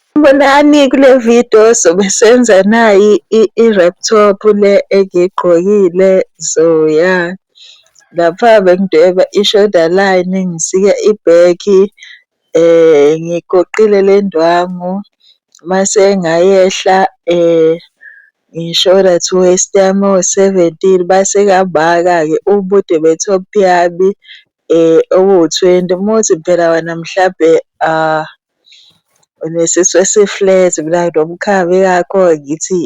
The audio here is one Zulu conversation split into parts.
Sanibonani kule video sobe senza nayi i-wrap top le engiyigqokile so ya lapha bengidweba i-shoulder line ngisika ibhekhi ngigoqile le ndwangu mase ngayehla ngi-shoulder to waist yami ewu-seventeen base kabaka-ke ubude be-top yami okuwu-twenty. Uma uthi phela wena mhlampe unesisu esi-flat mina nginomkhaya ingakho ngithi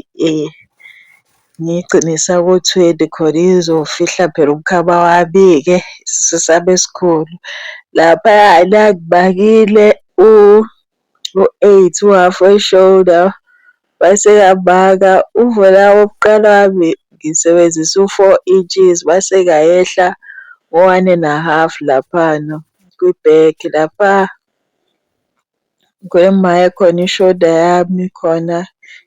ngiyigcinisa ku-twenty khona izofihla phela umkhaba wami-ke isisu sami esikhulu. Laphayana ngibakile u. u-8 u-half we shoulder base kambaka uvela wokuqala wami ngisebenzisa u-4 inches base kayehla ngo-one and a half laphana kwi-back lapha kwemayekho khona i-shoulder yami khona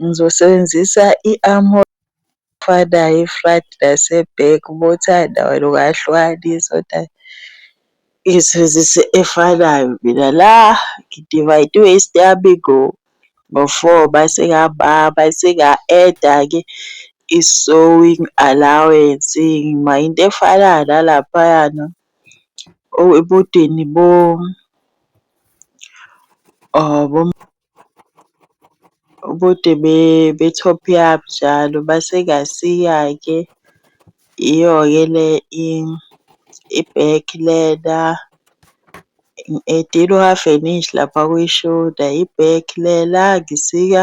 Ngizosebenzisa i-armor efanayo e-front nase-back uma uthanda wena ungayihlukanisa kodwa ngiyisebenzisa efanayo mina la ngidivayidwe isitayami ngo-four mase mase nga-add-a-ke i-sowing allowance ngima into efanayo nalaphayana ebodeni . Ubude be-top yabo njalo base kasiya-ke iyo-ke le i-back leather, ngidinga u-half an inch lapha kwi-shoulder, i-back le la ngisika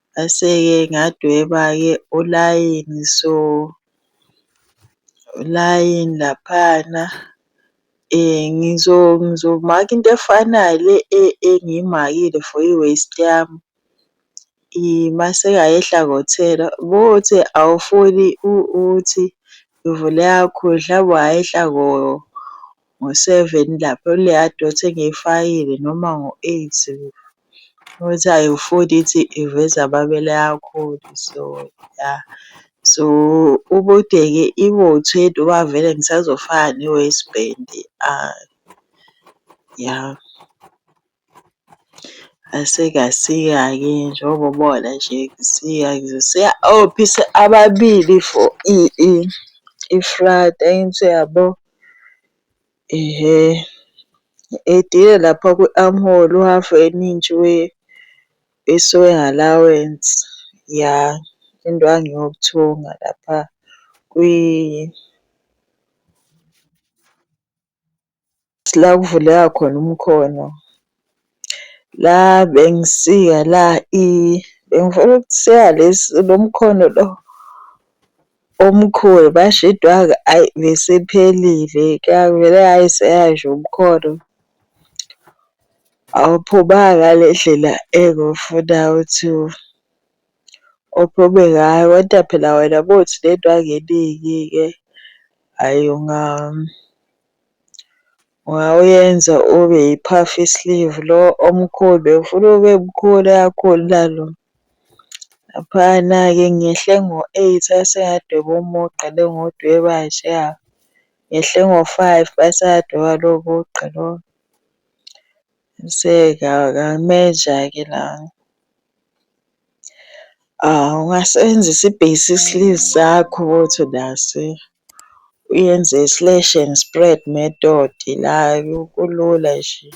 Ngase-ke ngadweba-ke ulayini so ulayini laphana ngizomaka into efanayo le engiyimakile for i-waist yami. Mase ayehla kothela bothi awufuni ukuthi uvule yakhudlwa wayehla ngo-seven lapho leya dot engiyifakile noma ngo-eight ukuthi ayiwufuni ithi iveza amabele akhulu so ya so ubude-ke ibothwe noma vele ngisazofaka ne-waistband ya. Asikasiya ke njengoba ubona nje kusiya kusiya ophisa ababili for ifrata into yabo. Ihe edile lapha kwi-armhole u-half an inch we-sewing allowance. Ya indwangu yokuthunga lapha . la kuvuleka khona umkhono la bengisika la bengifuna ukusika lesi lo mkhono lo omkhulu basho idwaka ayi besiphelile kuyavele hhayi seyasho umkhono awuphumanga ngale ndlela engifuna ukuthi uphume ngayo kodwa phela wena uma uthi unendwangu eningi-ke hhayi . Wawuyenza ube yi-puff sleeve lo omkhulu bengifuna ube mkhulu kakhulu nalo. Laphayana-ke ngehle ngo-eight asengadweba umugqa le engiwudweba njeya. Ngehle ngo-five basadweba lowo mugqa lowo. Qiniseka akameja-ke la. Ungasebenzisa i-basic sleeve sakho uthi unase uyenze i-slash and spread method la kulula nje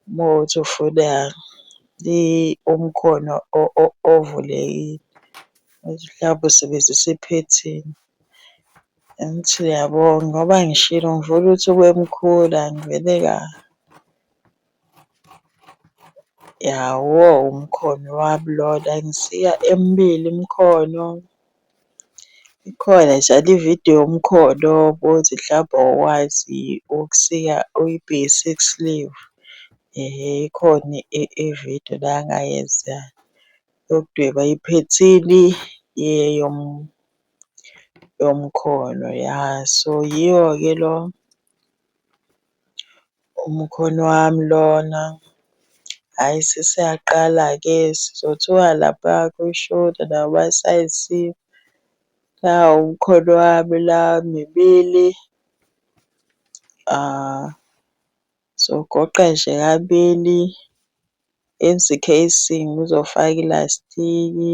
uma uthi ufuna umkhono ovulekile, mhlawumbe usebenzisa iphethini. Angithi uyabonga ngoba ngishilo ngivula ukuthi kwemkhulu angivele ka yawo umkhono wabulola ngisiya emibili imikhono. Ikhona njalo ividiyo yomkhono bothi mhlawumbe awukwazi ukusika uyi-base six sleeve. Ehe, ikhona ividiyo la engayenza yokudweba iphethini . yomkhono ya so yiwo-ke lo umkhono wami lona. Hhayi sesiyaqala-ke sizothuka lapha kwishoda nabo basayizile. Nawu umkhono wami la mibili sogoqa nje kabili enze i-casing ngizofaka ilastiki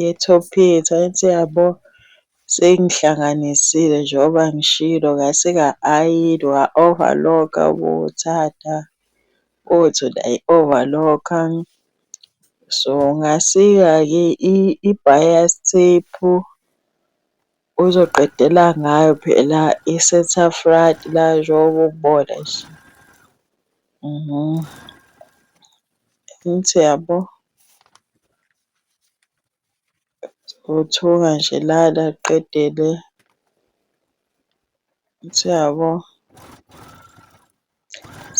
ye-top yethu angithi yabo seyingihlanganisile njengoba ngishilo ngase nga-ayini wa-overlock-a ubuthatha uthi uyayi-overlock-a. So ngasika-ke i-bias tape uzoqedela ngayo phela i-centre front la njengoba ubona nje . Angithi uyabo uthuka nje lala qedele angithi uyabo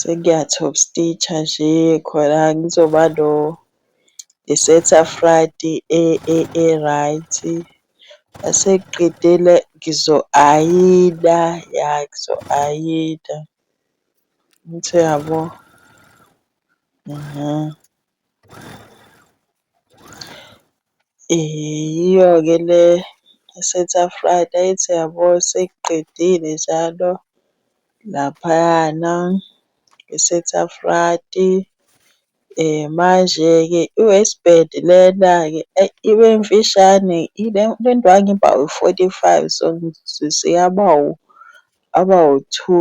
sekuya-top stitch-a nje khona ngizoba no i-Cetaphract e-right. Uma sekuqedile ngizo-ayina, ya ngizo-ayina angithi uyabo. Yiyo-ke le esethi after that ethi uyabo sekuqedile njalo laphayana esethi after manje-ke i-waist band lena-ke ayi ibe mfishane ile ndwangu iba u-forty five so seyaba aba u-two.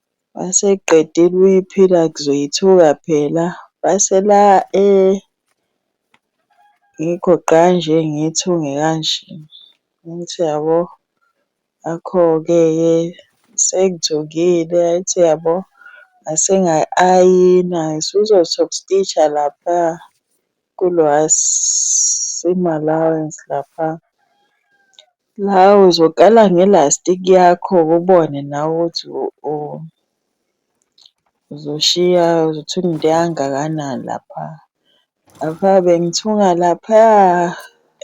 Maseqedile ukuyiphila ngizoyithuka phela. Base la ngikho gqa nje ngiyithunge kanje. Angithi uyabo? Ngakho-ke ke sengithungile angithi uyabo? Ngase ngayi-ayina, ngisuzo-top stitch-a lapha kuloya seam allowance lapha. La uzoqala nge-lastic yakho ubone nawe ukuthi uzoshiya uzothunga into engakanani lapha. Lapha bengithunga laphaya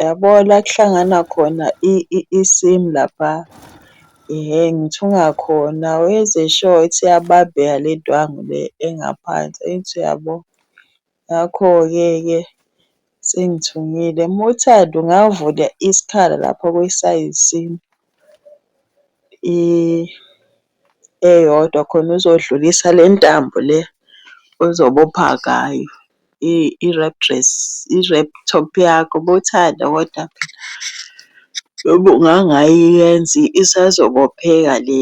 yabo la kuhlangana khona isimu lapha hhe ngithunga khona wenze sure ukuthi iyabambeka le ndwangu le engaphansi angithi uyabo. Ngakho-ke-ke sengithungile. Uma uthanda ungavula isikhala lapho kwisayizini eyodwa khona uzodlulisa le ntambo le ozobopha ngayo i-wrap dress, i-wrap top yakho uma uthanda kodwa phela. Noma ungangayenzi isazobopheka le.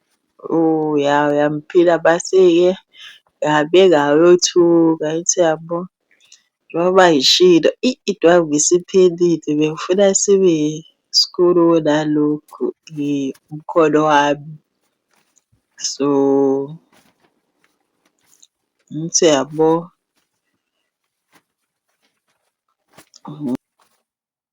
Uya uyamphila base-ke uyabeka uyothuka ithi yabo njengoba ngishilo idwangwe isiphelile bengifuna sibe sikhulu kunalokhu umkhono wami. So, ngithi uyabo .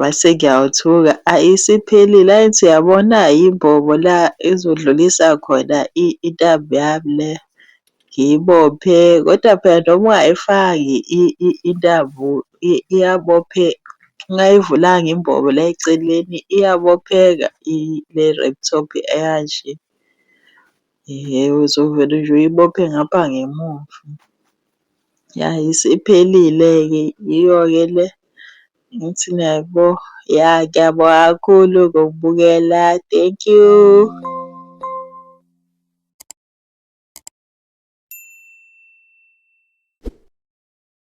Mase ngiyawuthuka, ayi isiphelile. Ayi ngithi uyabona yimbobo la ezodlulisa khona intambo yami le, ngiyibophe. Kodwa phela noma ungayifaki intambo iyabophe, ungayivulanga imbobo la eceleni iyabopheka le-laptop eyanje. Yebo, uzovele nje uyibophe ngapha ngemuva. Ya isiphelile-ke yiyo-ke le engithi niyaybo. Ya ngiyabonga kakhulu ngokubukela, thank you.